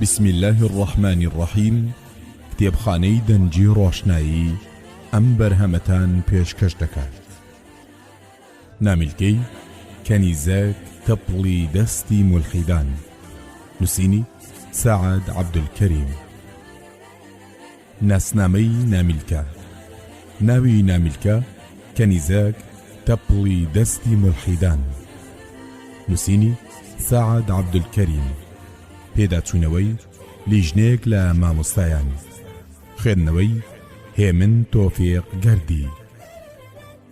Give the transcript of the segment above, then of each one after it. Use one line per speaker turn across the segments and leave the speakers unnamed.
بسم الله الرحمن الرحیم کتێبخانەی دەنجی ڕۆشنایی ئەم بەرهەمەتان پێشکەش دەکات نامیلکەی کەنیزەک تەپڵی دەستی ملحیدان نووسینی سعد عبدالکەریم ناسنامەی نامیلکە ناوی نامیلکە کەنیزەک تەپڵی دەستی مولحیدان نووسینی سەعد عەبدولکەریم پێداچوونەوەی لیژنەیەک لە مامۆستایان خوێندنەوەی هێمن تۆفێق گەردی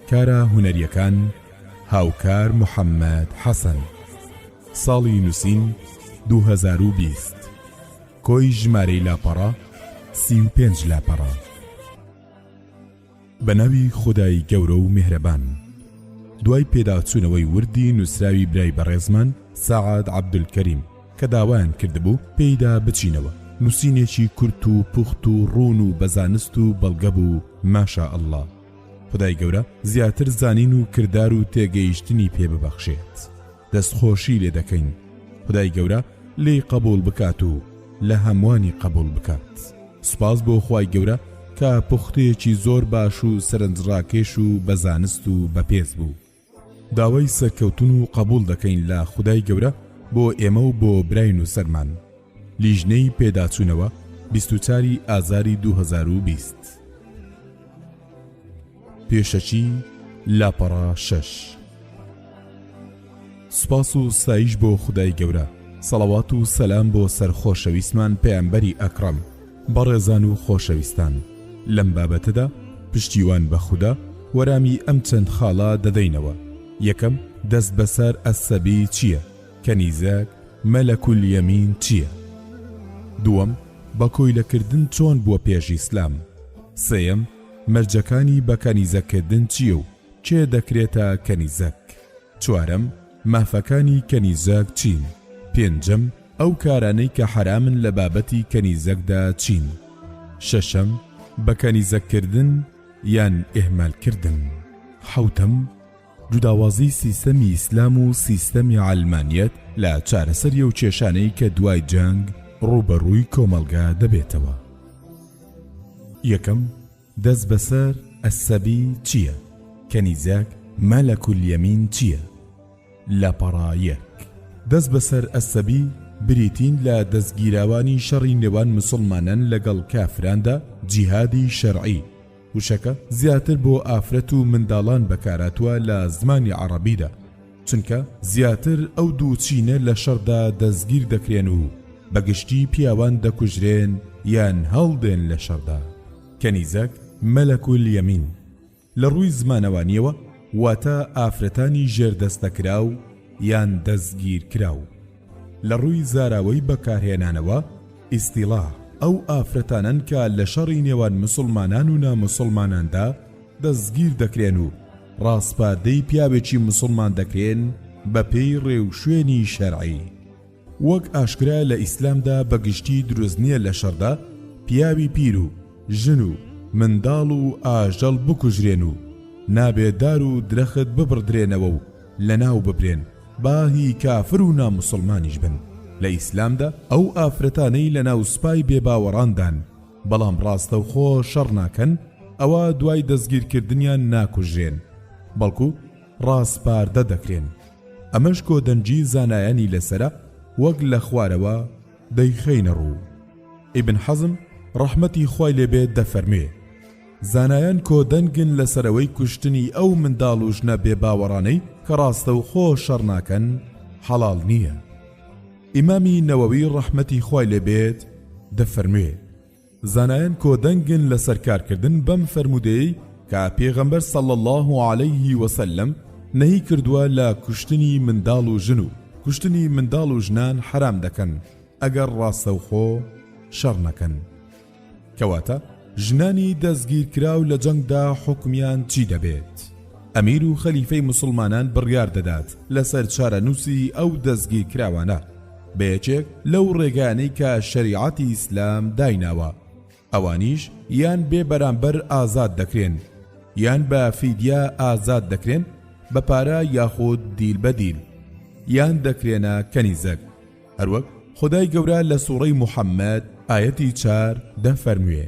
کارە هونەریەکان هاوکار محەممەد حەسەن ساڵی نووسین 2020 کۆی ژمارەی لاپەڕە سی و پێنج لاپەڕە بە ناوی خودای گەورە و میهرەبان دوای پێداچوونەوەی وردی نووسراوی برای بەڕێزمان سەعاد عەبدولکەریم کە داوایان کردبوو پێیدا بچینەوە نووسینێکی کورت و پوخت و ڕوون و بەزانست و بەڵگە بوو ماشا ئەلله خدای گەورە زیاتر زانین و کردار و تێگەیشتنی پێ ببەخشێت. دەست خۆشی لێ دەکەین خدای گەورە لێی قبول بکات و لە هەمووانی قبول بکات سپاس بۆ خی گەورە کە پوختەیەکی زۆر باش و سەرنجڕاکێش و بەزانست و بەپێز بوو داوای سەرکەوتن و قبول دەکەین لە خدای گەورە بۆ ئێمە و بۆ براین و سەرمان لیژنەی پێداچوونەوە 24 ئازاری 2020. پێشەکی لاپەڕە شەش سپاس و سایش بۆ خدای گەورە سەڵەوات و سەسلام بۆ سەر خۆشەویستمان پەیامبەری ئەکڕم بەڕێزان و خۆشەویستان لەم بابەتەدا پشتیوان بە خوددا وەرامی ئەم چەند خاڵە دەدەینەوە یەکەم دەست بەسەر ئەسەبی چییە کە نیزەک مەلەکول یەمین چییە دووەم بە کۆیلەکردن چۆن بووە پێش ئیسلام سێم مەرجەکانی بە کەنیزەک کردن چیە و کێ دەکرێتە کەنیزەک؟ چوارەم، مافەکانی کەنیزەک چین؟ پێنجەم، ئەو کارانەی کە حەرامن لە بابەتی کەنیزەکدا چین؟ شەشەم، بە کەنیزەک کردن یان ئیهمال کردن؟ حەوتەم، جوداوازی سیستەمی ئیسلام و سیستەمی عەلمانیەت لە چارەسەری ئەو کێشانەی کە دوای جەنگ ڕووبەڕووی کۆمەڵگا دەبێتەوە یەکەم دەست بەسەر ئەسەبی چییە؟ کەنیزەک مەلەکولیەمین چییە؟ لە پەڕا یەک دەست بەسەر ئەسەبی بریتین لە دەستگیراوانی شەڕی نێوان مسلمانان لەگەڵ کافراندا جیهادی شەرعی وشەکە زیاتر بۆ ئافرەت و منداڵان بەکارهاتووە لە زمانی عەڕەبیدا، چونکە زیاتر ئەو دوو چینە لە شەڕدا دەستگیر دەکرێن و بە گشتی پیاوان دەکوژرێن یان هەڵدێن لە شەڕدا. کەنیزەک، مەلەک الیمین، لە ڕووی زمانەوانییەوە واتە ئافرەتانی ژێردەستەکراو یان دەستگیرکراو. لە ڕووی زاراوەی بەکارهێنانەوە، ئیستیڵاح، ئەو ئافرەتانەن کە لە شەڕی نێوان موسڵمانان و ناموسڵماناندا دەستگیر دەکرێن و ڕاسپاردەی پیاوێکی موسڵمان دەکرێن بەپێی ڕێوشوێنی شەرعی. وەک ئاشکرایە لە ئیسلامدا بە گشتی دروست نییە لە شەڕدا پیاوی پیر و ژن و منداڵ و ئاژەڵ بکوژرێن و نابێ دار و درەخت ببڕدرێنەوە و لەناو ببرێن با هی کافر و ناموسڵمانیش بن لە ئیسلامدا ئەو ئافرەتانەی لەناو سوپای بێباوەڕاندان بەڵام ڕاستەوخۆ شەڕ ناکەن ئەوا دوای دەستگیرکردنیان ناکوژرێن بەڵکو ڕاسپاردە دەکرێن ئەمەش کۆدەنگی زانایانی لەسەرە وەک لە خوارەوە دەیخەینە ڕوو ئیبن حەزم ڕەحمەتی خوای لێبێت دەفەرموێ زانایان کۆ دەنگن لەسەرەوەی کوشتنی ئەو منداڵ و ژنە بێ باوەڕانەی کە ڕاستە و خۆ شەڕ ناکەن حەڵال نییە ئیمامی نەوەوی ڕەحمەتی خوای لێبێت دەفەرموێ زانایان کۆدەنگن لەسەر کارکردن بەم فەرموودەیەی کە پێغەمبەر صلی اللە علیه وسلم نەهی کردووە لە کوشتنی منداڵ و ژن و کوشتنی منداڵ و ژنان حەرام دەکەن ئەگەر ڕاستەوخۆ شەڕ نەکەن کەواتە ژنانی دەستگیرکراو لە جەنگدا حکمیان چی دەبێت؟ ئەمیر و خەلیفەی مسلمانان بڕیار دەدات لەسەر چارەنووسی ئەو دەستگیرکراوانە بە یەکێک لەو ڕێگانەی کە شەریعەتی ئیسلام دایناوە ئەوانیش یان بێ بەرامبەر ئازاد دەکرێن یان بە فیدیا ئازاد دەکرێن بە پارە یاخود دیل بە دیل یان دەکرێنە کەنیزەک هەروەک خدای گەورە لە سوڕەی محەممەد ئاەتی چار دەفەرموێ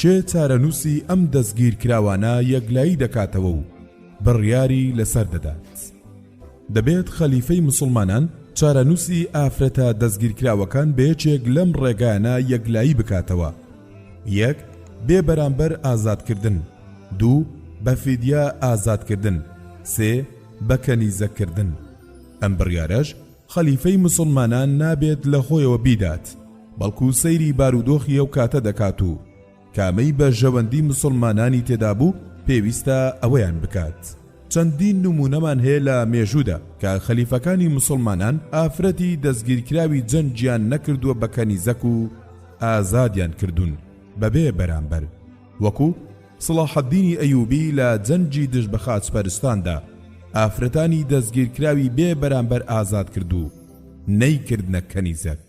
کێ چارەنووسی ئەم دەستگیرکراوانە یەکلایی دەکاتەوە و بڕیاری لەسەر دەدات؟ دەبێت خەلیفەی مسوڵمانان چارەنووسی ئافرەتە دەستگیرکراوەکان بەیەکێک لەم ڕێگایانە یەکلایی بکاتەوە یەک بێ بەرامبەر ئازادکردن دوو بە فیدیا ئازادکردن سێ بە کەنیزەکردن ئەم بڕیارەش خەلیفەی موسڵمانان نابێت لە خۆیەوە بیدات، بەڵکو سەیری بارودۆخی ئەو کاتە دەکات و کامەی بەرژەوەندی موسڵمانانی تێدا بوو پێویستە ئەوەیان بکات. چەندین نموونەمان هەیە لە مێژوودا کە خەلیفەکانی موسڵمانان ئافرەتی دەستگیرکراوی جەنگیان نەکردووە بە کەنیزەک و ئازادیان کردوون بەبێ بەرامبەر. وەکو، سڵاحەدینی ئەیوبی لە جەنگی دژ بە خاچپەرستاندا، ئافرەتانی دەستگیرکراوی بێ بەرامبەر ئازاد کرد و نەیکردنە کەنیزەک.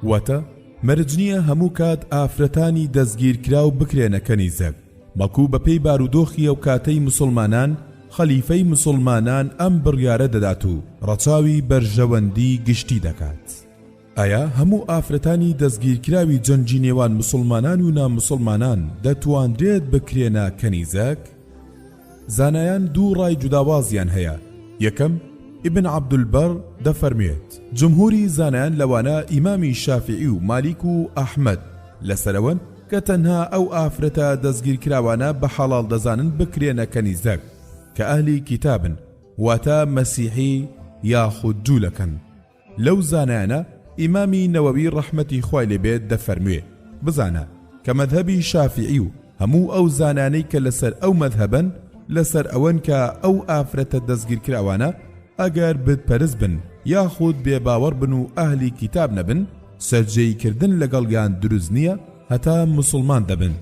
واتە، مەرج نییە هەموو کات ئافرەتانی دەستگیرکراو بکرێنە کەنیزەک، بەڵکو بەپێی بارودۆخی ئەوکاتەی موسڵمانان، خەلیفەی موسڵمانان ئەم بڕیارە دەدات و ڕەچاوی بەرژەوەندیی گشتی دەکات. ئایا هەموو ئافرەتانی دەستگیرکراوی جەنگی نێوان مسوڵمانان و نامسوڵمانان دەتواندرێت بکرێنە کەنیزەک؟ زانایان دوو ڕای جوداوازیان هەیە، یەکەم، ئیبن عەبدولبەر، دەفەرموێت، جمهوری زانایان لەوانە ئیمامی شافیعی و مالیک و ئەحمەد لەسەرەوەن کە تەنها ئەو ئافرەتە دەستگیرکراوانە بە حەڵاڵ دەزانن بکرێنە کەنیزەک کە ئەهلی کیتابن واتە مەسیحی یاخود جوولەکەن. لەو زانایانە ئیمامی نەوەوی ڕەحمەتی خوای لێ بێت دەفەرموێ، بزانە، کە مەزهەبی شافیعی و هەموو ئەو زانانەی کە لەسەر ئەو مەزهەبەن لەسەر ئەوەن کە ئەو ئافرەتە دەستگیرکراوانە ئەگەر بتپەرست بن یاخود بێ باوەڕ بن و ئەهلی کیتاب نەبن سەرجێی کردن لەگەڵیان دروست نییە هەتا موسڵمان دەبن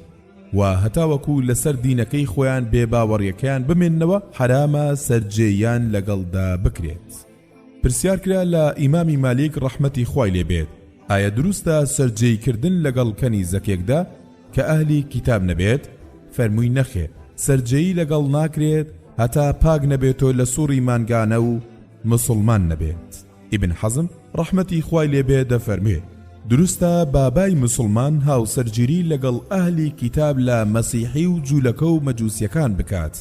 و هەتاوەکو لەسەر دینەکەی خۆیان بێ باوەڕیەکەیان بمێننەوە حەرامە سەرجێیان لەگەڵدا بکرێت. پرسیار کرا لە ئیمامی مالیک ڕەحمەتی خوای لێ بێت ئایا دروستە سەرجێی کردن لەگەڵ کەنیزەکێکدا کە ئەهلی کیتاب نەبێت فەرمووی نەخێر سەرجێی لەگەڵ ناکرێت هەتا پاک نەبێتۆ لە سوڕی مانگانە و مسلمان نەبێت ئیبن حەزم ڕەحمەتی خوای لێ بێ دەفەرموێ دروستە بابای مسلمان هاوسەرگیری لەگەڵ ئەهلی کیتاب لە مەسیحی و جوولەکە و مەجوسیەکان بکات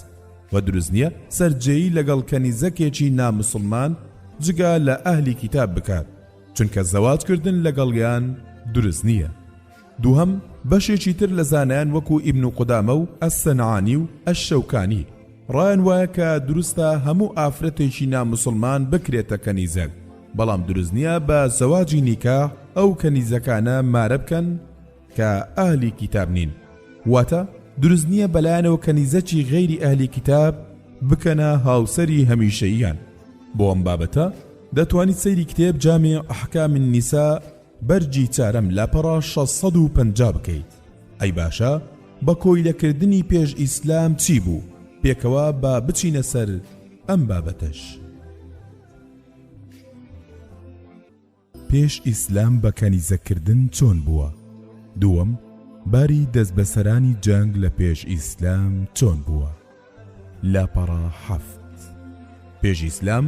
وە دروست نیە سەرجێی لەگەڵ کەنیزەکێکی نا موسڵمان جگە لە ئەهلی کیتاب بکات چونکە زەواج کردن لەگەڵیان دروست نیە دووهەم بەشێکی تر لە زانایان وەکو ئیبن و قودامە و ئەسەنعانی و ئەشەوکانی ڕایان وایە کە دروستە هەموو ئافرەتێکی نا موسڵمان بکرێتە کەنیزەک بەڵام دروست نیە بە زەواجی نیکاح ئەو کەنیزەکانە مارە بکەن کە ئەهلی کیتاب نین واتە دروست نییە بەلایەنەوە کەنیزەکی غەیری ئەهلی کیتاب بکەنە هاوسەری هەمیشەییان بۆ ئەم بابەتە دەتوانیت سەیری کتێب جامی ئەحکا من نیسا بەرجی چارەم لاپەڕا 650 بکەیت ئەی باشە بە کۆیلەکردنی پێش ئیسلام چی بوو پێکەوە با بچینە سەر ئەم بابەتەش. پێش ئیسلام بە کەنیزە کردن چۆن بووە؟ دووەم، باری دەست بەسەرانی جەنگ لە پێش ئیسلام چۆن بووە؟ لاپەڕە حەفت. پێش ئیسلام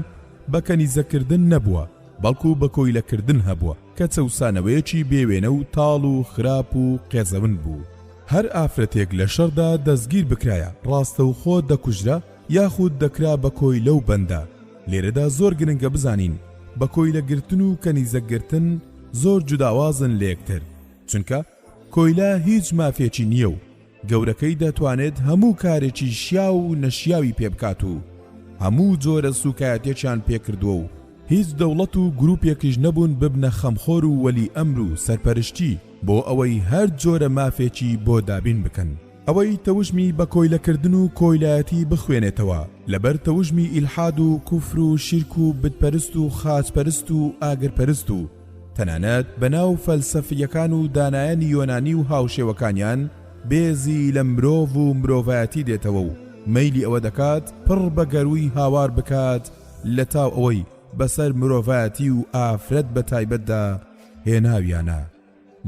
بە کەنیزە کردن نەبووە، بەڵکو بە کۆیلە کردن هەبووە، کە چەوسانەوەیەکی بێ وێنە و تاڵ و خراپ و قێزەون بوو، هەر ئافرەتێک لە شەڕدا دەستگیر بکرایە، ڕاستەوخۆ دەکوژرا یاخود دەکرا بە کۆیلە و بەندە، لێرەدا زۆر گرنگە بزانین بە کۆیلە گرتن و کەنیزەک گرتن زۆر جوداوازن لە یەکتر چونکە کۆیلە هیچ مافێکی نییە و گەورەکەی دەتوانێت هەموو کارێکی شیاو و نەشیاوی پێ بکات و هەموو جۆرە سوکایەتێکیان پێکردووە و هیچ دەوڵەت و گروپێکیش نەبوون ببنە خەمخۆر و وەلی ئەمر و سەرپەرشتی بۆ ئەوەی هەر جۆرە مافێکی بۆ دابین بکەن. ئەوەی تەوژمی بە کۆیلە کردن و کۆیلایەتی بخوێنێتەوە لەبەر تەوژمی ئیلحاد و کوفر و شیرک و بت پەرست و خاچ پەرست و ئاگر پەرست و تەنانەت بە ناو فەلسەفیەکان و دانایانی یۆنانی و هاوشێوەکانیان بێزی لە مرۆڤ و مرۆڤایەتی دێتەوە و مەیلی ئەوە دەکات پڕ بە گەرووی هاوار بکات لەتاو ئەوەی بەسەر مرۆڤایەتی و ئافرەت بە تایبەتدا هێناویانە.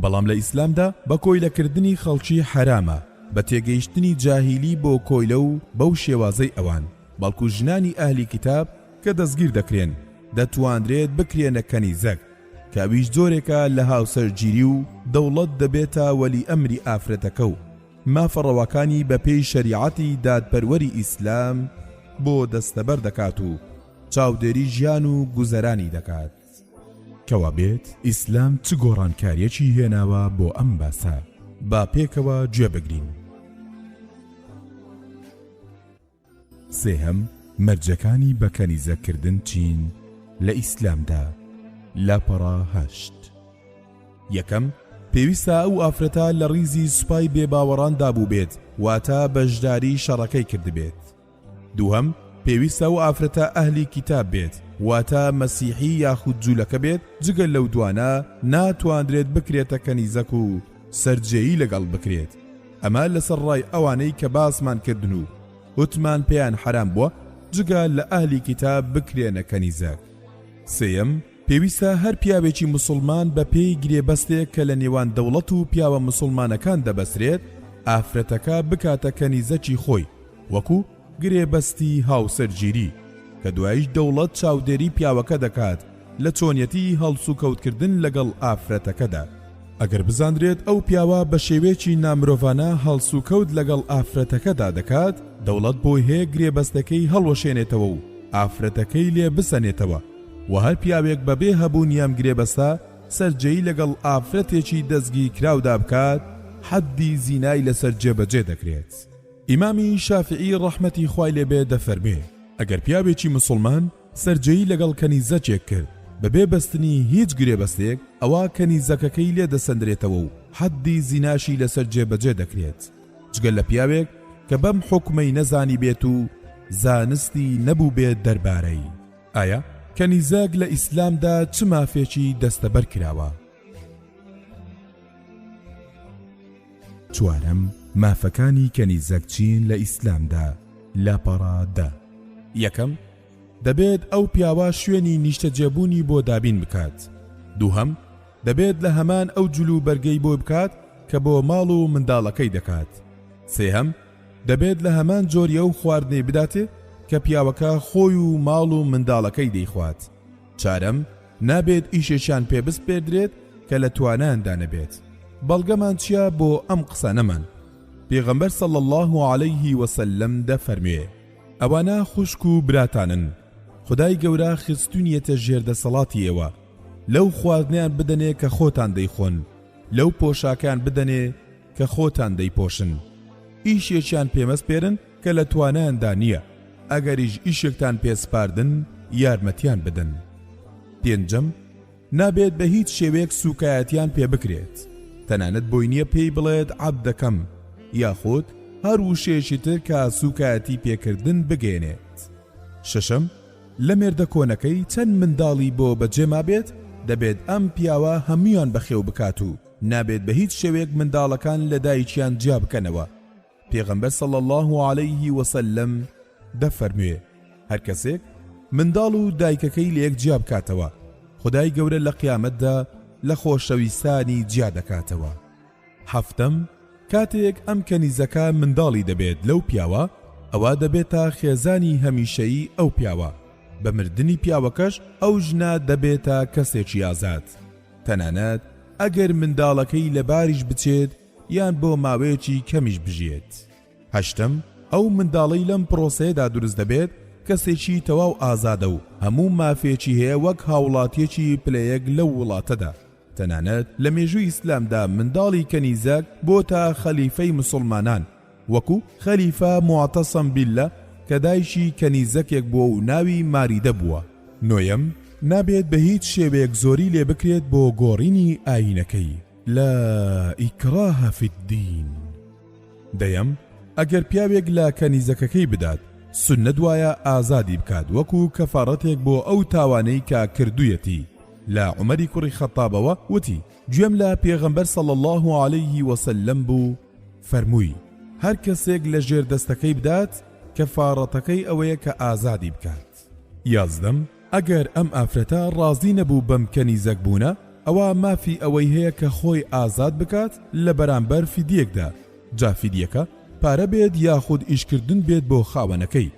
بەڵام لە ئیسلامدا بە کۆیلە کردنی خەڵکی حەرامە بە تێگەیشتنی جاهیلی بۆ کۆیلە و بەو شێوازەی ئەوان بەڵکو ژنانی ئەهلی کیتاب کە دەستگیر دەکرێن دەتوانرێت بکرێنە کەنیزەک کە ئەویش جۆرێکە لە هاوسەرگیری و دەوڵەت دەبێتە وەلی ئەمری ئافرەتەکە و مافە ڕەواکانی بە پێی شەریعەتی دادپەروەری ئیسلام بۆ دەستەبەر دەکات و چاودێری ژیان و گوزەرانی دەکات. کەوابێت ئیسلام چ گۆڕانکاریەکی هێناوە بۆ ئەم باسە با پێکەوە گوێ بگرین سێهەم مەرجەکانی بەکەنیزەکردن چین لە ئیسلامدا لاپەڕا هەشت یەکەم پێویستە ئەو ئافرەتە لە ڕیزی سوپای بێباوەڕاندا بووبێت واتە بەشداری شەڕەکەی کردبێت دووهەم، پێویستە ئەو ئافرەتە ئەهلی کیتاب بێت، واتە مەسیحی یاخود جوولەکە بێت، جگە لەو دوانە ناتواندرێت بکرێتە کەنیزەک و سەرجێیی لەگەڵ بکرێت، ئەمە لەسەر ڕای ئەوانەی کە باسمان کردن و وتمان پێیان حەرام بووە جگە لە ئەهلی کیتاب بکرێنە کەنیزەک. سێیەم، پێویستە هەر پیاوێکی موسڵمان بە پێی گرێبەستێک کە لە نێوان دەوڵەت و پیاوە موسڵمانەکان دەبەسرێت ئافرەتەکە بکاتە کەنیزەکی خۆی وەکو گرێبەستی هاوسەرگیری کە دوایش دەوڵەت چاودێری پیاوەکە دەکات لە چۆنیەتی هەڵسوکەوتکردن لەگەڵ ئافرەتەکەدا ئەگەر بزاندرێت ئەو پیاوە بە شێوەیەکی نامرۆڤانە هەڵسوکەوت لەگەڵ ئافرەتەکەدا دەکات دەوڵەت بۆی هەیە گرێبەستەکەی هەڵوەشێنێتەوە و ئافرەتەکەی لێ بسەنێتەوە وە هەر پیاوێک بە بێ هەبوونی ئەم گرێبەستە سەرجێی لەگەڵ ئافرەتێکی دەستگیرکراودا بکات حەدی زینای لەسەر جێبەجێ دەکرێت ئیمامی شافعی ڕەحمەتی خوای لێبێ دەفەرمێ ئەگەر پیاوێکی مسلمان سەرجێی لەگەڵ کەنیزەکێک کرد بەبێ بەستنی هیچ گرێبەستێک ئەوا کەنیزەکەکەی لێ دەسەندرێتەوە و حەدی زیناشی لەسەر جێبەجێ دەکرێت جگە لە پیاوێک کە بەم حکومەی نەزانی بێت و زانستی نەبوو بێت دەربارەی ئایا کەنیزەک لە ئیسلامدا چ مافێکی دەستەبەر کراوە؟ چوارەم مافەکانی کەنیزەک چین لە ئیسلامدا لاپەڕا دە یەکەم دەبێت ئەو پیاوە شوێنی نیشتەجێبوونی بۆ دابین بکات دووهەم دەبێت لە هەمان ئەو جلو بەرگەی بۆ بکات کە بۆ ماڵ و منداڵەکەی دەکات سێهەم دەبێت لە هەمان جۆری ئەو خواردنەی بداتێ کە پیاوەکە خۆی و ماڵ و منداڵەکەی دەیخوات. چارەم، نابێت ئیشێکیان پێ بسپێردرێت کە لە توانایاندا نەبێت. بەڵگەمان چییە بۆ ئەم قسانەمان؟ پێغەمبەر صلی اللە علیه وسلم دەفەرموێ، ئەوانە خوشک و براتانن، خودای گەورە خستوونیەتە ژێر دەسەڵاتی ئێوە، لەو خواردنەیان بدەنێ کە خۆتان دەیخۆن، لەو پۆشاکەیان بدەنێ، کە خۆتان دەیپۆشن ئیشێکیان پێمەسپێرن کە لە توانایاندا نییە ئەگەریش ئیشێکتان پێسپاردن یارمەتیان بدەن پێنجەم نابێت بە هیچ شێوەیەک سوکایەتیان پێ بکرێت تەنانەت بۆی نییە پێی بڵێت عەب دەکەم یاخود هەر وشەیەکی تر کە سوکایەتی پێکردن بگەێنێت شەشەم لە مێردە کۆنەکەی چەند منداڵی بۆ بەجێما بێت دەبێت ئەم پیاوە هەمویان بەخێو بکات و نابێت بە هیچ شێوەیەک منداڵەکان لە دایکیان جیا بکەنەوە پێغەمبەر صلی الله عليه وسلم دەفەرموێ هەر کەسێک منداڵ و دایکەکەی لەیەک جیا بکاتەوە خدای گەورە لە قیامەتدا لە خۆشەویستانی جیا دەکاتەوە هەفتم کاتێک ئەم کەنیزەکە منداڵی دەبێت لەو پیاوە ئەوە دەبێت تا خێزانی هەمیشەیی ئەو پیاوە بە مردنی پیاوەکەش ئەو ژنە دەبێتە کەسێکی ئازاد تەنانەت ئەگەر منداڵەکەی لەباریش بچێت یان بۆ ماوەیەکی کەمیش بژیێت. هەشتەم، ئەو منداڵەی لەم پرۆسەیەدا دروست دەبێت کەسێکی تەواو ئازادە و هەموو مافێکی هەیە وەک هاوڵاتیەکی پلە یەک لەو وڵاتەدا. تەنانەت لە مێژووی ئیسلامدا منداڵی کەنیزەک بۆتە خەلیفەی مسوڵمانان وەکو، خەلیفە موعتەسەم بیللە، کە دایکی کەنیزەکێک بووە و ناوی ماریدە بووە. نۆیەم، نابێت بە هیچ شێوەیەک زۆری لێ بکرێت بۆ گۆڕینی ئایینەکەی، لا ئیکراە فی الدین. دەیەم، ئەگەر پیاوێک لە کەنیزەکەکەی بدات، سوننەت وایە ئازادی بکات وەکو کەفارەتێک بۆ ئەو تاوانەی کە کردوویەتی، لە عومەری کوڕی خەتابەوە وتی، گوێم لە پێغەمبەر صلی اللە علیه وسلم بوو، فەرمووی، هەر کەسێک لە ژێر دەستەکەی بدات، کەفاڕەتەکەی ئەوەیە کە ئازادی بکات. یازدەم، ئەگەر ئەم ئافرەتە ڕازی نەبوو بەم کەنیزەک بوونە، ئەوا مافی ئەوەی هەیە کە خۆی ئازاد بکات لە بەرامبەر فیدیەکدا، جا فیدیەکە پارە بێت یاخود ئیشکردن بێت بۆ خاوەنەکەی.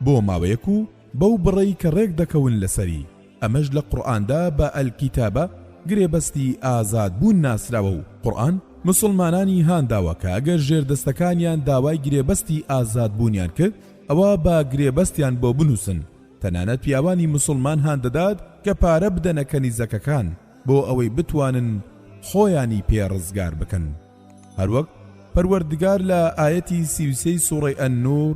بۆ ماوەیەک و بەو بڕەی کە ڕێک دەکەون لەسەری، ئەمەش لە قورئاندا بە الکتابە، گرێبەستی ئازاد بوون ناسراوە و قورئان موسڵمانانی هانداوە کە ئەگەر ژێردەستەکانیان داوای گرێبەستی ئازاد بوونیان کرد ئەوا با گرێبەستیان بۆ بنووسن، تەنانەت پیاوانی موسڵمان هاندەدات کە پارە بدەنە کەنیزەکەکان بۆ ئەوەی بتوانن خۆیانی پێ ڕزگار بکەن هەروەک پەروەردگار لە ئایەتی سی و سێی سوڕەی النور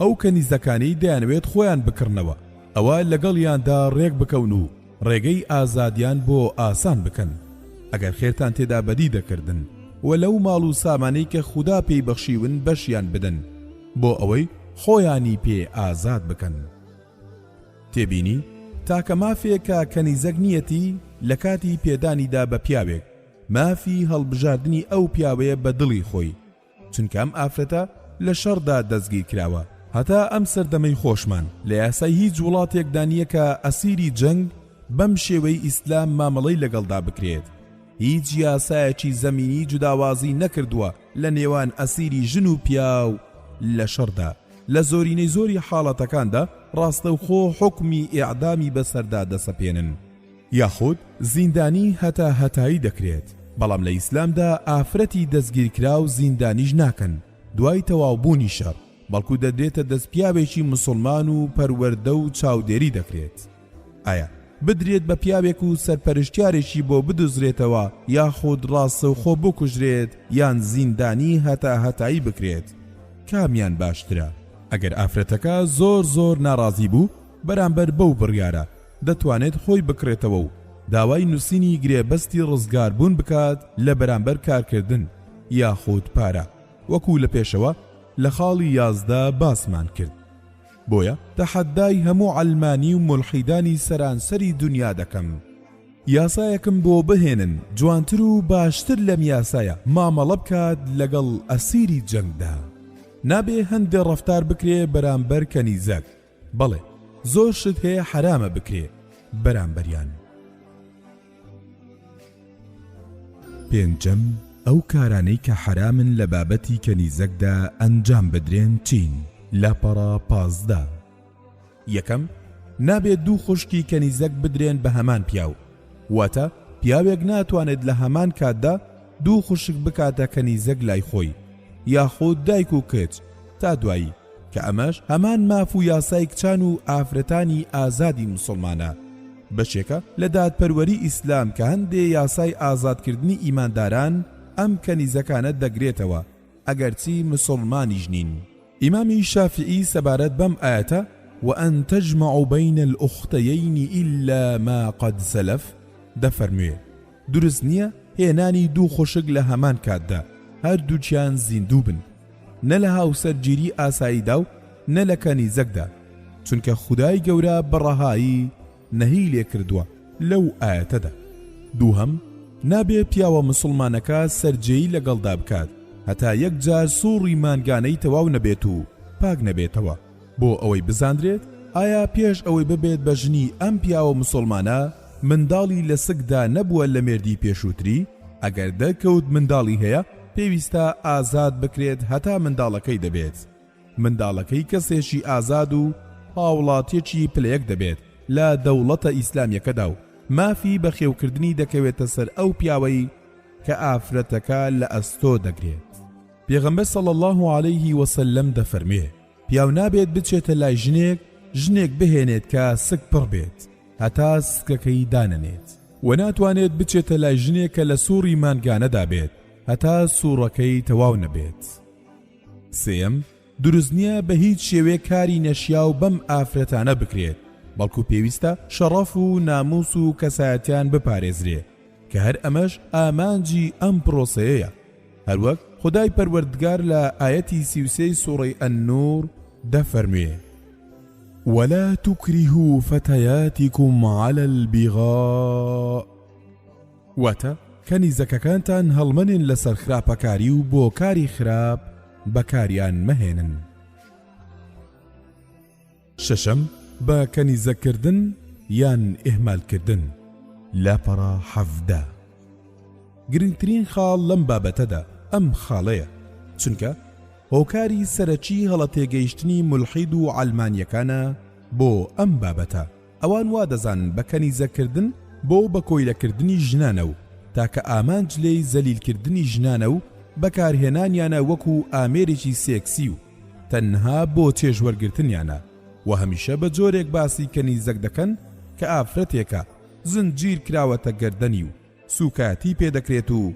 ئەو کەنیزەکانەی دەیانەوێت خۆیان بکڕنەوە ئەوا لەگەڵیاندا ڕێک بکەون و ڕێگەی ئازادیان بۆ ئاسان بکەن ئەگەر خێرتان تێدا بەدی دەکردن و لەو ماڵ و سامانەی کە خودا پێی بەخشیون بەشیان بدەن بۆ ئەوەی خۆیانی پێ ئازاد بکەن تێبینی تاکە مافێکە کەنیزەک نیەتی لە کاتی پێدانیدا بە پیاوێک مافی هەڵبژاردنی ئەو پیاوەیە بە دڵی خۆی چونکە ئەم ئافرەتە لە شەڕدا دەستگیرکراوە. هەتا ئەم سەردەمەی خۆشمان لە یاسای هیچ وڵاتێکدا نییە کە ئەسیری جەنگ بەم شێوەی ئیسلام مامەڵەی لەگەڵدا بکرێت. هیچ یاسایەکی زەمینی جوداوازی نەکردووە لە نێوان ئەسیری ژن و پیاو لە شەڕدا. لە زۆرینەی زۆری حاڵەتەکاندا ڕاستەوخۆ حوکمی ئێعدامی بەسەردا دەسەپێنن. یاخود زیندانی هەتا هەتایی دەکرێت، بەڵام لە ئیسلامدا ئافرەتی دەستگیرکراو زیندانیش ناکەن دوای تەواوبوونی شەڕ، بەڵکو دەدرێتە دەست پیاوێکی موسڵمان و پەروەردە و چاودێری دەکرێت. ئایا بدرێت بە پیاوێک و سەرپەرشتیارێکی بۆ بدوزرێتەوە یاخود ڕاستەوخۆ بکوژرێت یان زیندانی هەتا هەتایی بکرێت کامیان باشترە؟ ئەگەر ئافرەتەکە زۆر زۆر ناڕازی بوو بەرامبەر بەو بڕیارە، دەتوانێت خۆی بکڕێتەوە و داوای نووسینی گرێبەستی ڕزگاربوون بکات لە بەرامبەر کارکردن یاخود پارە وەکو لە پێشەوە لە خاڵی یازدە باسمان کرد بۆیە تەحەدای هەموو عەلمانی و مولحیدانی سەرانسەری دنیا دەکەم یاسایەکم بۆ بهێنن جوانتر و باشتر لەم یاسایە مامەڵە بکات لەگەڵ ئەسیری جەنگدا نابێ هەندێ ڕەفتار بکرێ بەرامبەر کەنیزەک بەڵێ زۆر شت هەیە حەرامە بکرێ بەرامبەریان. پێنجەم ئەو کارانەی کە حەرامن لە بابەتی کەنیزەکدا ئەنجام بدرێن چین لاپەڕا پازدە یەکەم نابێت دوو خوشکی کەنیزەک بدرێن بە هەمان پیاو واتە پیاوێک ناتوانێت لە هەمان کاتدا دوو خوشک بکاتە کەنیزەک لای خۆی یاخود دایک و کچ تا دوایی کە ئەمەش هەمان ماف و یاسای کچان و ئافرەتانی ئازادی موسڵمانە، بەشێکە لە دادپەروەری ئیسلام کە هەندێ یاسای ئازادکردنی ئیمانداران ئەم کەنیزەکانە دەگرێتەوە ئەگەرچی مسوڵمانیش نین. ئیمامی شافیعی سەبارەت بەم ئایەتە، وان تجمعوا بین الاختیین الا ما قد سلف، دەفەرموێ. دروست نییە هێنانی دوو خوشک لە هەمان کاتدا هەردووچیان زیندوو بن نە لە هاوسەرگیری ئاساییدا و نە لە کەنیزەکدا چونکە خدای گەورە بەڕەهایی نەهی لێ کردووە لەو ئاەتەدا دووهم نابێ پیاوە مسلمانەکە سەررجەی لەگەڵدا بکات هەتا یەک جار سوڕی مانگانەی تەواو نەبێت و پاک نەبێتەوە بۆ ئەوەی بزاندرێت ئایا پێش ئەوەی ببێت بە ژنی ئەم پیاوە مسوڵمانە منداڵی لە سکدا نەبووە لە مێردی پێشووتری؟ ئەگەر دەرکەوت منداڵی هەیە پێویستە ئازاد بکرێت هەتا منداڵەکەی دەبێت منداڵەکەی کەسێکی ئازاد و هاوڵاتیەکی پلە یەک دەبێت لە دەوڵەتە ئیسلامیەکەدا و مافی بەخێوکردنی دەکەوێتە سەر ئەو پیاوەی کە ئافرەتەکە لە ئەستۆ دەگرێت. پێغەمبەر صلی اللە علیه وسلم دەفەرموێ، پیاو نابێت بچێتە لای ژنێک ژنێک بهێنێت کە سک پڕ بێت هەتا سکەکەی دانەنێت، وە ناتوانێت بچێتە لای ژنێک کە لە سوڕی مانگانەدا بێت هەتا سوڕەکەی تەواو نەبێت. سێیەم، دروست نییە بە هیچ شێوێ کاری نەشیاو بەم ئافرەتانە بکرێت، بەڵکو پێویستە شەڕەف و ناموس و کەسایەتیان بپارێزرێ، کە هەر ئەمەش ئامانجی ئەم پرۆسەیەیە هەروەک خودای پەروەردگار لە ئایەتی سی و سێ ی سوڕەی النور دەفەرموێ ولا تکرهوا فتياتکم علی البغاء واتە کەنیزەکەکانتان هەڵمەنێن لەسەر خراپەکاری و بۆ کاری خراپ بەکاریان مەهێنن شەشەم، بە کەنیزەک کردن یان ئیهمال کردن، لاپەڕە حەڤدە. گرنگترین خاڵ لەم بابەتەدا ئەم خاڵەیە، چونکە هۆکاری سەرەکی هەڵە تێگەیشتنی مولحید و عەلمانیەکانە بۆ ئەم بابەتە، ئەوان وا دەزانن بە کەنیزەک کردن بۆ بە کۆیلە کردنی ژنانە و تاکە ئامانج لێی زەلیل کردنی ژنانە و بەکارهێنانیانە وەکو ئامێرێکی سێکسی و تەنها بۆ چێژ وەرگرتنیانە و هەمیشە بە جۆرێک باسی کەنیزەک دەکەن کە ئافرەتێکە زنجیر کراوەتە گەردەنی و سوکایەتی پێدەکرێت و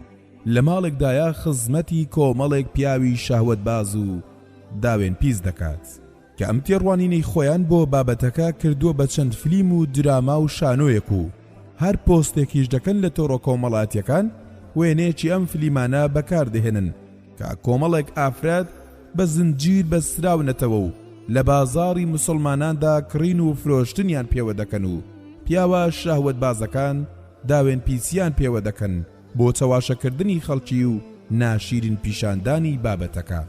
لە ماڵێکدایە خزمەتی کۆمەڵێک پیاوی شەهوەت باز و داوێن پیس دەکات کە ئەم تێڕوانینەی خۆیان بۆ بابەتەکە کردووە بە چەند فلیم و دراما و شانۆیەک و هەر پۆستێکیش دەکەن لە تۆڕۆکۆمەڵاتیەکان وێنەیەکی ئەم فلیمانە بەکاردەهێنن کە کۆمەڵێک ئافرەت بە زنجیر بەستراونەتەوە و لە بازاڕی مسوڵماناندا کڕین و فرۆشتنیان پێوە دەکەن و پیاوە شەهوەتبازەکان داوێن پیسیان پێوە دەکەن بۆ چەواشەکردنی خەڵکی و ناشیرین پیشاندانی بابەتەکە.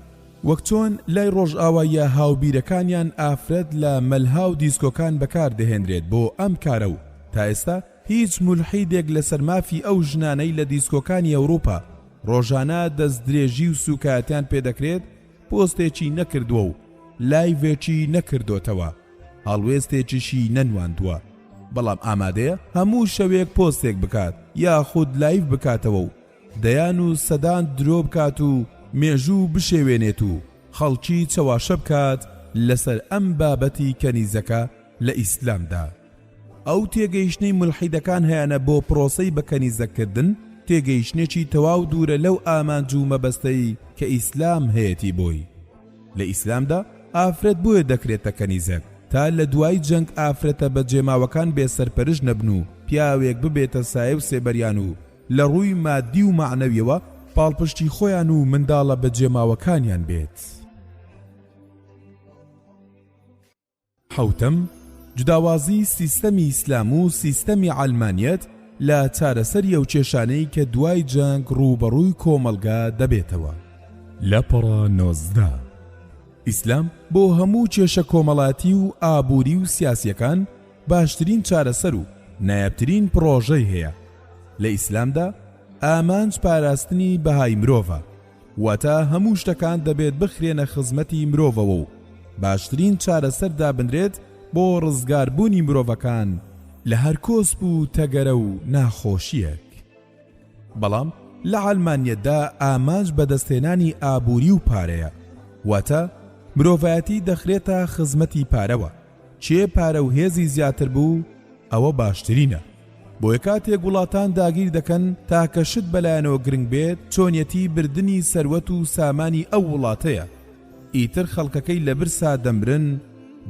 وەک چۆن لای ڕۆژئاواییە هاوبیرەکانیان ئافرەت لە مەلها و دیسکۆکان بەکاردەهێنرێت بۆ ئەم کارە و تا ئێستا هیچ مولحیدێک لەسەر مافی ئەو ژنانەی لە دیسکۆکانی ئەوروپا ڕۆژانە دەستدرێژی و سوکایەتیان پێدەکرێت پۆستێکی نەکردوە و لایڤێکی نەکردۆتەوە هەڵوێستێکیشی نەنواندوە بەڵام ئامادەیە هەموو شەوێک پۆستێک بکات یاخود لایڤ بکاتەوە و دەیان و سەدان درۆ بکات و مێژوو بشێوێنێت و خەڵکی چەواشە بکات لەسەر ئەم بابەتی کەنیزەکە لە ئیسلامدا. ئەو تێگەیشتنەی مولحیدەکان هەیانە بۆ پرۆسەی بە کەنیزەککردن تێگەیشتنێکی تەواو دوورە لەو ئامانج و مەبەستەی کە ئیسلام هەیەتی بۆی. لە ئیسلامدا ئافرەت بۆیە دەکرێتە کەنیزەک تا لە دوای جەنگ ئافرەتە بەجێماوەکان بێ سەرپەرشت نەبن و پیاوێک ببێتە سایە و سێبەریان و لە ڕووی مادی و مەعنەویەوە پاڵپشتی خۆیان و منداڵە بەجێماوەکانیان بێت. حەوتەم، جوداوازی سیستەمی ئیسلام و سیستەمی عەلمانیەت لە چارەسەری ئەو کێشانەی کە دوای جەنگ ڕووبەڕووی کۆمەڵگا دەبێتەوە. لەپەڕە نۆزدە، ئیسلام بۆ هەموو کێشە کۆمەڵاتی و ئابووری و سیاسیەکان باشترین چارەسەر و نایابترین پڕۆژەی هەیە، لە ئیسلامدا ئامانج پاراستنی بەهای مرۆڤە، واتە هەموو شتەکان دەبێت بخرێنە خزمەتی مرۆڤەوە و باشترین چارەسەر دابنرێت بۆ ڕزگاربوونی مرۆڤەکان لە هەر کۆسپ و تەگەرە و ناخۆشییەک بەڵام لە عەلمانیەتدا ئامانج بەدەستهێنانی ئابووری و پارەیە واتە مرۆڤایەتی دەخرێتە خزمەتی پارەوە کێ پارە و هێزی زیاتر بوو ئەوە باشترینە بۆیە کاتێک وڵاتان داگیر دەکەن تاکە شت بەلایەنەوە گرنگ بێت چۆنیەتی بردنی سەروەت و سامانی ئەو وڵاتەیە ئیتر خەڵکەکەی لە برسا دەمرن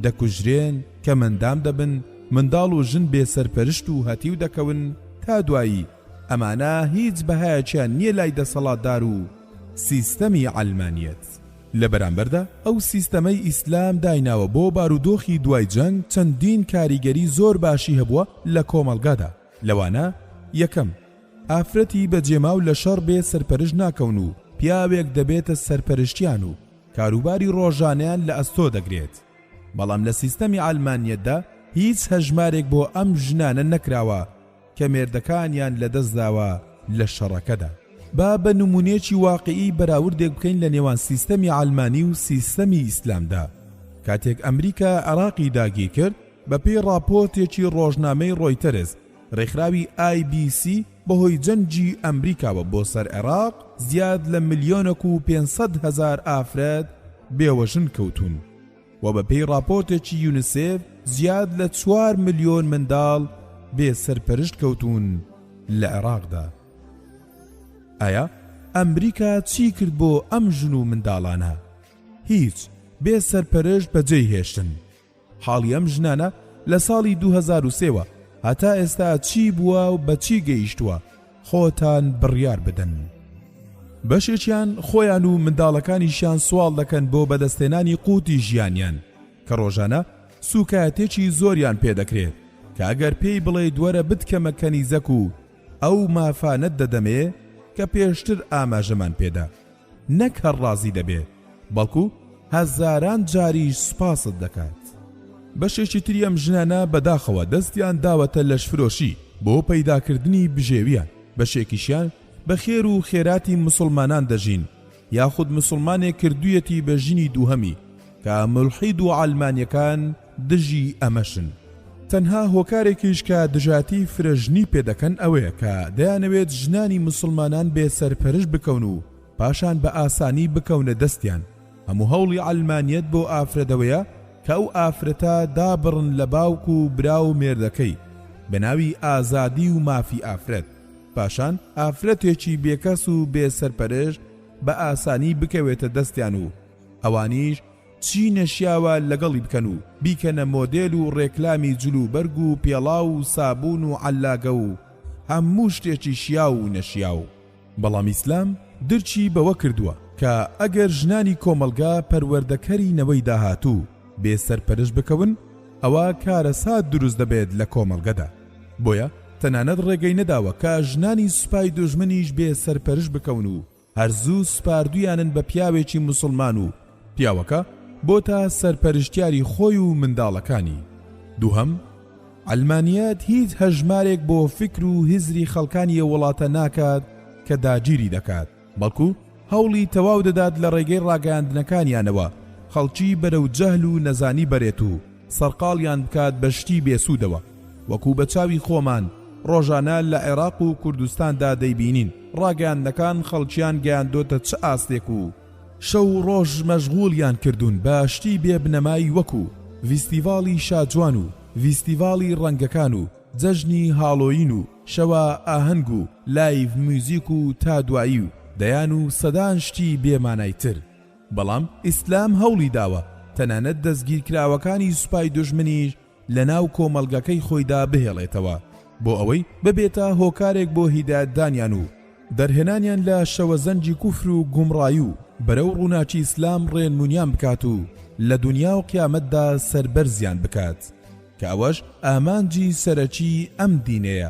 دەکوژرێن کەمەندام دەبن منداڵ و ژن بێ سەرپەرشت و هەتیو دەکەون تا دوایی ئەمانە هیچ بەهایەکیان نییە لای دەسەڵاتدار و سیستەمی عەلمانیەت. لە بەرامبەردا ئەو سیستەمەی ئیسلام دایناوە بۆ بارودۆخی دوای جەنگ چەندین کاریگەری زۆر باشی هەبووە لە کۆمەڵگادا لەوانە، یەکەم، ئافرەتی بەجێماو لە شەڕ بێ سەرپەرشت ناکەون و پیاوێک دەبێتە سەرپەرشتیان و کاروباری ڕۆژانەیان لە ئەستۆ دەگرێت بەڵام لە سیستەمی عەلمانیەتدا هیچ هەژمارێک بۆ ئەم ژنانە نەکراوە کە مێردەکانیان لەدەستداوە لە شەڕەکەدا. با بە نموونەیەکی واقیعی بەراوردێک بکەین لە نێوان سیستەمی عەلمانی و سیستەمی ئیسلامدا. کاتێک ئەمریکا عێراقی داگیرکرد، بەپێی ڕاپۆرتێکی ڕۆژنامەی ڕۆیتەرز، ڕێکخراوی ئای بی سی بەهۆی جەنگی ئەمریکاوە بۆ سەر عێراق زیاد لە ملیۆنەک و پێنج سەد هەزار ئافرەت بێوەژن کەوتوون. و بەپێی ڕاپۆرتێکی یونسێف زیاد لە چوار ملیۆن منداڵ بێ سەرپەرشت کەوتوون لە عێراقدا ئایا ئەمریکا چی کرد بۆ ئەم ژن و منداڵانە هیچ بێ سەرپەرشت بەجێی هێشتن حاڵی ئەم ژنانە لە ساڵی 2023وە هەتا ئێستا چی بووە و بەچی گەیشتووە خۆتان بڕیار بدەن. بەشێکیان خۆیان و منداڵەکانیشیان سواڵ دەکەن بۆ بەدەستهێنانی قوتی ژیانیان کە ڕۆژانە سووکایەتێکی زۆریان پێ دەکرێت کە ئەگەر پێی بڵێیت وەرە بتکەمە کەنیزەک و ئەو مافانەت دەدەمێ کە پێشتر ئاماژەمان پێدا. نەک هەر ڕازی دەبێ بەڵکو هەزاران جاریش سوپاست دەکات. بەشێکی تری ئەم ژنانە بەداخەوە دەستیان داوەتە لەشفرۆشی بۆ پەیداکردنی بژێوییان، بەشێکیشیان بە خێر و خێراتی موسڵمانان دەژین، یاخود موسڵمانێک کردوویەتی بە ژنی دووهەمی، کە مولحید و عەلمانیەکان دژی ئەمەشن. تەنها هۆکارێکیش کە دژاتیی فرەژنی پێ دەکەن ئەوەیە کە دەیانەوێت ژنانی موسڵمانان بێ سەرپەرش بکەون و پاشان بە ئاسانی بکەونە دەستیان. هەموو هەوڵی عەلمانیەت بۆ ئافرەتەوەیە کە ئەو ئافرەتە دابڕن لە باوک و برا و مێردەکەی بە ناوی ئازادی و مافی ئافرەت، پاشان ئافرەتێکی بێکەس و بێ سەرپەرشت بە ئاسانی بکەوێتە دەستیان و ئەوانیش چی نەشیاوە لەگەڵی بکەن و بیکەنە مۆدێل و ڕێکلامی جل و بەرگ و پێڵاو و سابوون و عەللاگە و هەموو شتێکی شیاو و نەشیاو. بەڵام ئیسلام درکی بەوە کردووە کە ئەگەر ژنانی کۆمەڵگا پەروەردەکەری نەوەی داهاتوو بێ سەرپەرش بکەون ئەوا کارەسات دروست دەبێت لە کۆمەڵگەدا بۆیە تەنانەت ڕێگەی نەداوە کە ژنانی سوپای دوژمنیش بێ سەرپەرش بکەون و هەر زوو سپاردویانن بە پیاوێکی موسڵمان و پیاوەکە بۆتە سەرپەرشتیاری خۆی و منداڵەکانی دووهەم عەلمانیەت هیچ هەژمارێک بۆ فکر و هزری خەڵکانی ئە وڵاتە ناکات کە داگیری دەکات بەڵکو هەوڵی تەواو دەدات لە ڕێگەی ڕاگەیاندنەکانیانەوە خەڵکی بەرەو جەهل و نەزانی بەرێت و سەرقاڵیان بکات بە شتی بێسوودەوە، وەکو بە چاوی خۆمان ڕۆژانە لە عێراق و کوردستاندا دەیبینین، ڕاگەیاندنەکان خەڵکیان گەیاندۆتە چ ئاستێک و، شەو و ڕۆژ مەشغوڵیان کردوون بە شتی بێ بنەمای وەکو، ڤیستیڤاڵی شاجوان و ڤیستیڤاڵی ڕەنگەکان و جەژنی هاڵۆیین و شەوە ئاهەنگ و لایڤ میوزیک و تا دوایی و دەیان و سەدان شتی بێ مانای تر. بەڵام ئیسلام هەوڵی داوە تەنانەت دەستگیرکراوەکانی سوپای دوژمنیش لە ناو کۆمەڵگەکەی خۆیدا بهێڵێتەوە بۆ ئەوەی ببێتە هۆکارێک بۆ هیدایەتدانیان و دەرهێنانیان لە شەوەزەنگی کوفر و گومڕایی و بەرەو ڕووناکی ئیسلام ڕێنمونیان بکات و لە دونیا و قیامەتدا سەربەرزیان بکات کە ئەوەش ئامانجی سەرەکی ئەم دینەیە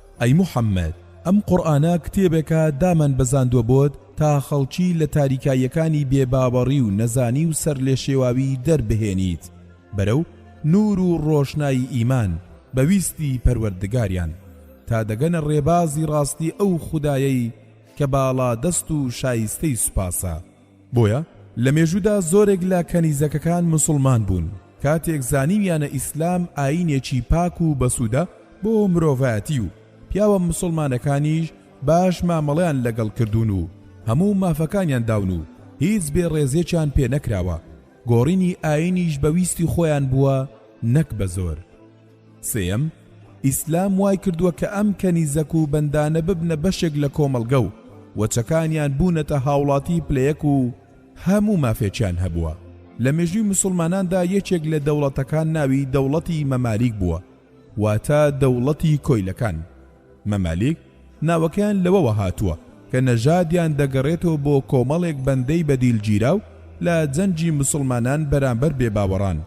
ئەی محمد ئەم قورئانە کتێبێکە دامان بەزاندوە بۆت تا خەڵکی لە تاریکاییەکانی بێ باوەڕی و نەزانی و سەرلێشێواوی دەربهێنیت بەرەو نور و ڕۆشنایی ئیمان بە ویستی پەروەردگاریان تا دەگەنە ڕێبازی ڕاستی ئەو خودایەی کە باڵادەست و شایستەی سوپاسە بۆیە لە مێژوودا زۆرێک لە کەنیزەکەکان موسڵمان بوون، کاتێک زانیویانە ئیسلام ئایینێکی پاک و بەسوودە بۆ مرۆڤایەتی و پیاوە موسڵمانەکانیش باش مامەڵەیان لەگەڵ کردوون و هەموو مافەکانیان داون و هیچ بێ ڕێزێکیان پێ نەکراوە، گۆڕینی ئایینیش بە ویستی خۆیان بووە نەک بە زۆر. سێیەم، ئیسلام وای کردووە کە ئەم کەنیزەک و بەندانە ببنە بەشێک لە کۆمەڵگە و وەچەکانیان بوونەتە هاوڵاتی پلە یەک و هەموو مافێکیان هەبووە. لە مێژووی مسوڵماناندا یەکێک لە دەوڵەتەکان ناوی دەوڵەتی مەمالیک بووە واتە دەوڵەتی کۆیلەکان. مەمالیک ناوەکەیان لەوەوە هاتووە کە نەژادیان دەگەڕێتەوە بۆ کۆمەڵێک بەندەی بەدیلگیراو لە جەنگی موسڵمانان بەرامبەر بێباوەڕان،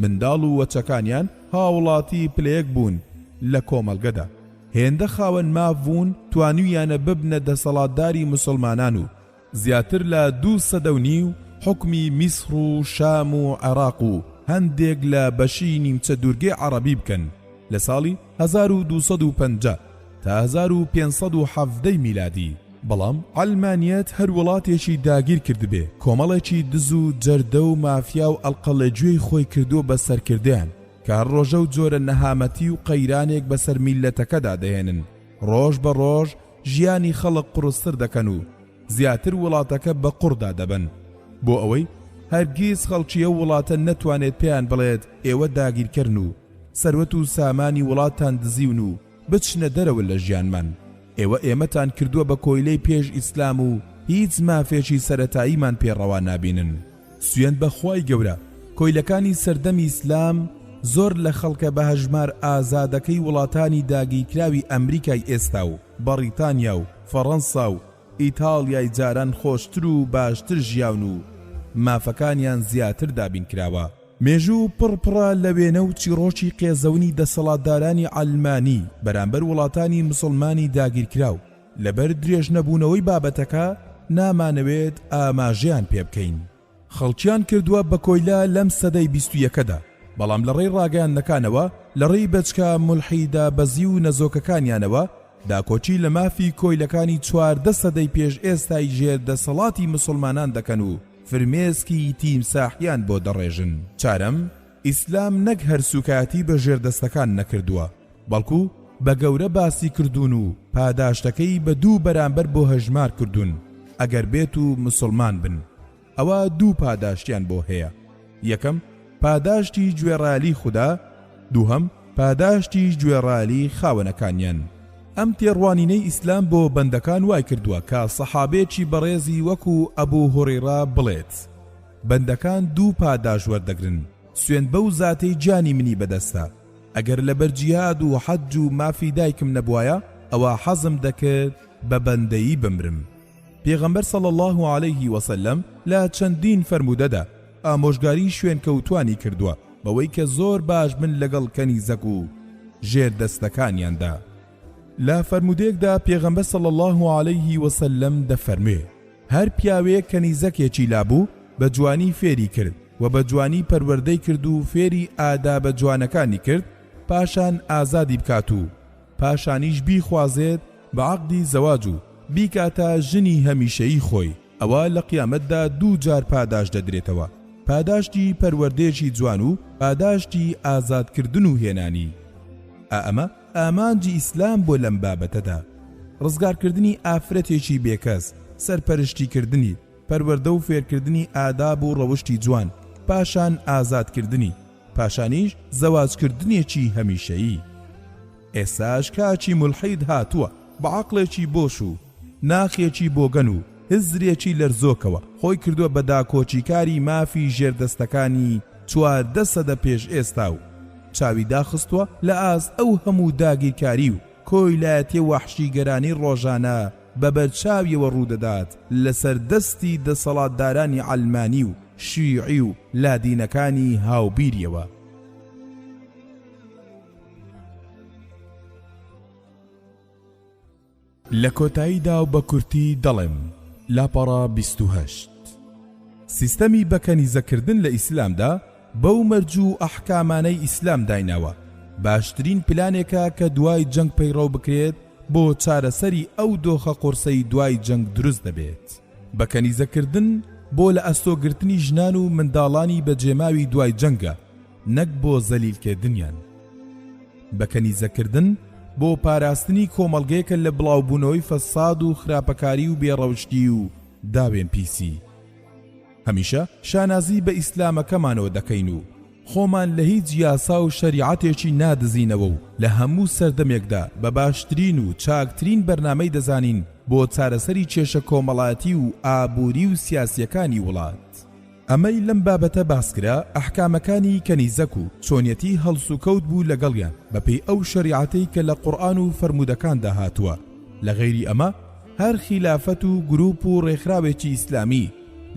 منداڵ و وەچەکانیان هاوڵاتی پلەیەک بوون لە کۆمەڵگەدا، هێندە خاوەن ماف بوون توانیویانە ببنە دەسەڵاتداری موسڵمانان و، زیاتر لە دوو سەدە و نیو حوکمی میسڕ و شام و عێڕاق و هەندێک لە بەشی نیمچە دوورگەی عەڕەبی بکەن لە ساڵی هەزار و دوو سەد و پەنجا تا هەزار و پێنج سەد و حەڤدە ی میلادی، بەڵام عەلمانیەت هەر وڵاتێکی داگیر کردبێ کۆمەڵێکی دز و جەردە و مافیا و ئەڵقەڵێجوێی خۆی کردووە بە سەرکردەیان کە هەر ڕۆژە و جۆرە نەهامەتی و قەیرانێک بەسەر میللەتەکەدا دەهێنن ڕۆژ بە ڕۆژ ژیانی خەڵک قوڕستر دەکەن و زیاتر وڵاتەکە بە قوڕدا دەبەن بۆ ئەوەی هەرگیز خەڵکی ئەو وڵاتە نەتوانێت پێیان بڵێت ئێوە داگیرکەرن و سەروەت و سامانی وڵاتان دزیون و بچنە دەرەوە لە ژیانمان ئێوە ئێمەتان کردووە بە کۆیلەی پێش ئیسلام و هیچ مافێکی سەرەتاییمان پێ ڕەوا نابینن. سوێند بە خوای گەورە کۆیلەکانی سەردەمی ئیسلام زۆر لە خەڵکە بە هەژمار ئازادەکەی وڵاتانی داگیرکراوی ئەمریکای ئێستا و بەڕیتانیا و فەڕەنسا و ئیتاڵیای جاران خۆشتر و باشتر ژیاون و مافەکانیان زیاتر دابین کراوە. مێژوو پڕ پڕە لە وێنە و چیڕۆکی قێزەونی دەسەڵاتدارانی عەلمانی بەرامبەر وڵاتانی مسوڵمانی داگیرکراو، لەبەر درێژنەبوونەوەی بابەتەکە نامانەوێت ئاماژەیان پێ بکەین. خەڵکیان کردووە بە کۆیلە لەم سەدەی بیست و یەکەدا، بەڵام لەڕێی ڕاگەیاندنەکانەوە، لەڕێی بەچکە مولحی دابەزی و نەزۆکەکانیانەوە، داکۆکی لە مافی کۆیلەکانی چواردە سەدەی پێش ئێستای ژێر دەسەڵاتی موسڵمانان دەکەن و فرمێسکی تیمساحیان بۆ دەڕێژن. چارەم، ئیسلام نەک هەر سوکایەتی بە ژێردەستەکان نەکردووە بەڵکو بە گەورە باسی کردوون و پاداشتەکەی بە دوو بەرامبەر بۆ هەژمار کردوون ئەگەر بێت و مسوڵمان بن ئەوا دوو پاداشتیان بۆ هەیە یەکەم پاداشتی گوێڕایەلی خودا دووهەم پاداشتی گوێڕایەلی خاوەنەکانیان ئەم تێڕوانینەی ئیسلام بۆ بەندەکان وای کردووە کە سەحابەیەکی بەڕێزی وەکو ئەبو هوڕیڕە بڵێت بەندەکان دوو پاداش وەردەگرن، سوێند بەو زاتەی گیانی منی بەدەستە، ئەگەر لەبەر جیهاد و حەج و مافی دایکم نەبوایە ئەوا حەزم دەکرد بە بەندەیی بمرم. پێغەمبەر صلی اللە علیه وسلم لە چەندین فەرموودەدا ئامۆژگاری شوێنکەوتوانی کردووە بەوەی کە زۆر باش بن لەگەڵ کەنیزەک و ژێر دەستەکانیاندا. لە فەرموودەیەکدا پێغەمبەر صلی اللە علیه وسلم دەفەرموێ، هەر پیاوێک کەنیزەکێکی لابوو بە جوانی فێری کرد و بە جوانی پەروەردەی کرد و فێری ئادابە جوانەکانی کرد پاشان ئازادی بکات و پاشانیش بیخوازێت بە عەقدی زەواج و بیکاتە ژنی هەمیشەیی خۆی ئەوا لە قیامەتدا دوو جار پاداشت دەدرێتەوە پاداشتی پەروەردەیەکی جوان و پاداشتی ئازادکردن و هێنانی ئا ئەمە ئامانجی ئیسلام بۆ لەم بابەتەدا، ڕزگارکردنی ئافرەتێکی بێکەس، سەرپەرشتیکردنی، پەروەردە و فێرکردنی ئاداب و ڕەوشتی جوان، پاشان ئازادکردنی، پاشانیش زەواجکردنێکی هەمیشەیی. ئێستاش کاکی مولحید هاتووە بە عەقڵێکی بۆش و، ناخێکی بۆگەن و هزرێکی لەرزۆکەوە خۆی کردووە بە داکۆکیکاری مافی ژێردەستەکانی چواردە سەدە پێش ئێستا و چاوی داخستووە لە ئاست ئەو هەموو داگیرکاری و کۆیلایەتیە وەحشیگەرانەی ڕۆژانە بە بەرچاویەوە ڕوودەدات لەسەر دەستی دەسەڵاتدارانی عەلمانی و شیعی و لادینەکانی هاوبیریەوە. لە کۆتاییدا و بە کورتی دەڵێم، لاپەڕە بیست و هەشت. سیستەمی بە کەنیزەکردن لە ئیسلامدا بەو مەرج و ئەحکامانەی ئیسلام دایناوە، باشترین پلانێکە کە دوای جەنگ پەیڕەو بکرێت بۆ چارەسەری ئەو دۆخە قورسەی دوای جەنگ دروست دەبێت. بە کەنیزەکردن بۆ لە ئەستۆگرتنی ژنان و منداڵانی بەجێماوی دوای جەنگە، نەک بۆ زەلیل کردنیان. بە کەنیزە کردن بۆ پاراستنی کۆمەڵگەیەکە لە بڵاو بوونەوەی فەساد و خراپەکاری و بێ ڕەوشتی و داوێن پیسی. هەمیشە شانازی بە ئیسلامەکەمانەوە دەکەین و خۆمان لە هیچ یاسا و شەریعەتێکی نادزینەوە و لە هەموو سەردەمێکدا بە باشترین و چاکترین بەرنامەی دەزانین بۆ چارەسەری کێشە کۆمەڵایەتی و ئابووری و سیاسیەکانی وڵات. ئەمەی لەم بابەتە باسکرا ئەحکامەکانی کەنیزەک و چۆنیەتی هەڵسوکەوت بوو لەگەڵیان بەپێی ئەو شەریعەتەی کە لە قورئان و فەرموودەکاندا هاتووە لە غەیری ئەمە هەر خیلافەت و گروپ و ڕێکخراوێکی ئیسلامی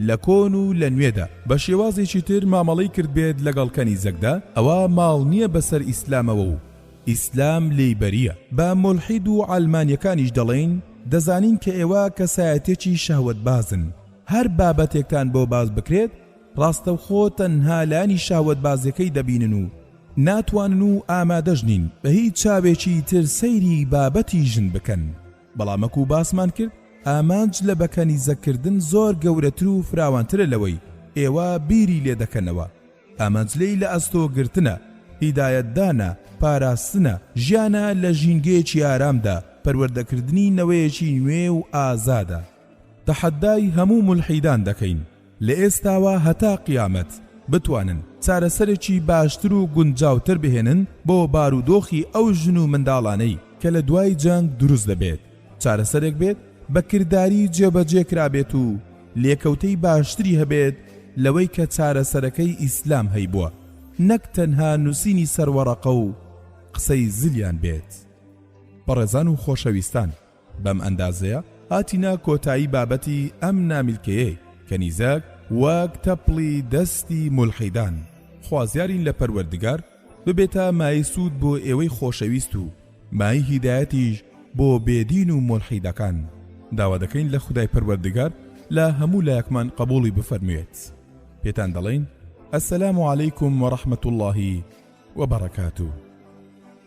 لە کۆن و لە نوێدا بە شێوازێکی تر مامەڵەی کردبێت لەگەڵ کەنیزەکدا ئەوە ماڵ نییە بەسەر ئیسلامەوە و ئیسلام لێی بەریە بە مولحید و عەلمانیەکانیش دەڵێین دەزانین کە ئێوە کەسایەتێکی شەهوەت بازن هەر بابەتێکتان بۆ باس بکرێت ڕاستەوخۆ تەنها لانی شەهوەتبازیەکەی دەبینن و ناتوانن و ئامادەش نین بە هیچ چاوێکی تر سەیری بابەتی ژن بکەن بەڵام وەکو باسمان کرد ئامانج لە بەکەنیزەکردن زۆر گەورەتر و فراوانترە لەوەی ئێوە بیری لێ دەکەنەوە ئامانج لێی لە ئەستۆ گرتنە هیدایەتدانە پاراستنە ژیانە لە ژینگەیەکی ئارامدا پەروەردەکردنی نەوەیەکی نوێ و ئازادە تەحەدای هەموو مولحیدان دەکەین لە ئێستاوە هەتا قیامەت بتوانن چارەسەرێکی باشتر و گونجاوتر بهێنن بۆ بارودۆخی ئەو ژن و منداڵانەی کە لە دوای جەنگ دروست دەبێت چارەسەرێک بێت بە کرداری جێبەجێ کرابێت و لێکەوتەی باشتری هەبێت لەوەی کە چارەسەرەکەی ئیسلام هەیبووە نەک تەنها نووسینی سەروەڕەقە و قسەی زلیان بێت بەڕێزان و خۆشەویستان بەم ئەندازەیە هاتینە کۆتایی بابەتی ئەم نامیلکەیەی کەنیزەک وەک تەپڵی دەستی مولحیدان خوازیارین لە پەروەردگار ببێتە مای سوود بۆ ئێوەی خۆشەویست و مای هیدایەتیش بۆ بێدین و مولحیدەکان داوا دەکەین لە خودای پەروەردگار لە هەموو لایەکمان قبولی بفەرموێت پێتان دەڵین السلام علیکم و رحمت اللهی وبرکاته